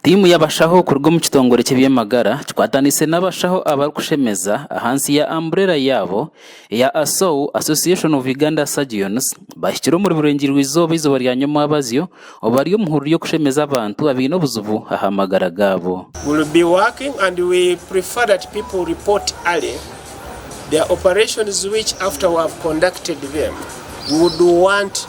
Tiimu y'abashaho kuruga omu kitongore ky'eby'amagara kikwataniise n'abashaho abarikushemeza ahansi ya amburera yaabo eya ASOU, Association of Uganda Surgeons, bahikire omuri Burengyerwa-Izooba eizooba rya Nyomwabazyo obu bari omu hururu y'okushemeza abantu abaine obuzibu aha magara gaabo. We'll be working and we prefer that people report early their operations which after we have conducted them we would want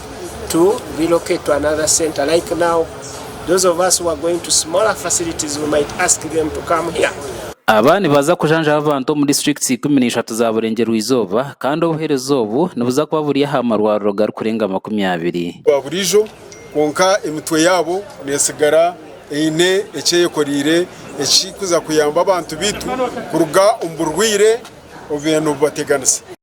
to relocate to another center like now those of us who are going to smaller facilities we might ask them to come here. Aba nibaza kujanjaba abantu omu districts ikumi na ishatu za Burengyerwa-izooba kandi obuheereza obu nibuza kuba buri aha marwariro garikurenga makumi abiri. gwa buriijo kwonka emitwe yaabo neetsigara eine eki eyekoreire ekirikuza kuyamba abantu baitu kuruga omu burwaire obu baabaire nibubateganisa.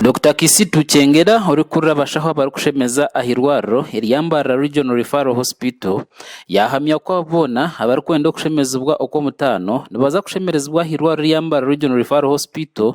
Dokita Kisitu Kyengera orikurira abashaho abarikushemeza aha irwariro erya Mbarara Regional Referral Hospital yahamya ku abo boona abarikwenda okushemezibwa okw'omutaano nibaza kushemerezibwa aha irwariro erya Mbarara Regional Referral Hospital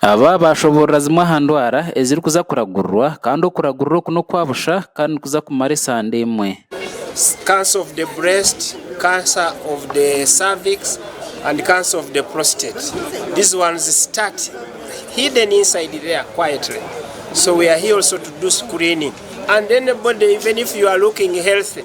Aba baashoboorora zimwe aha ndwara ezirikuza kuragurirwa kandi okuragurira oku n'okwa busha kandi nikuza kumara esande emwe. Cancer of the breast, cancer of the cervix and cancer of the prostate. These ones start hidden inside there quietly so we are here also to do screening and anybody even if you are looking healthy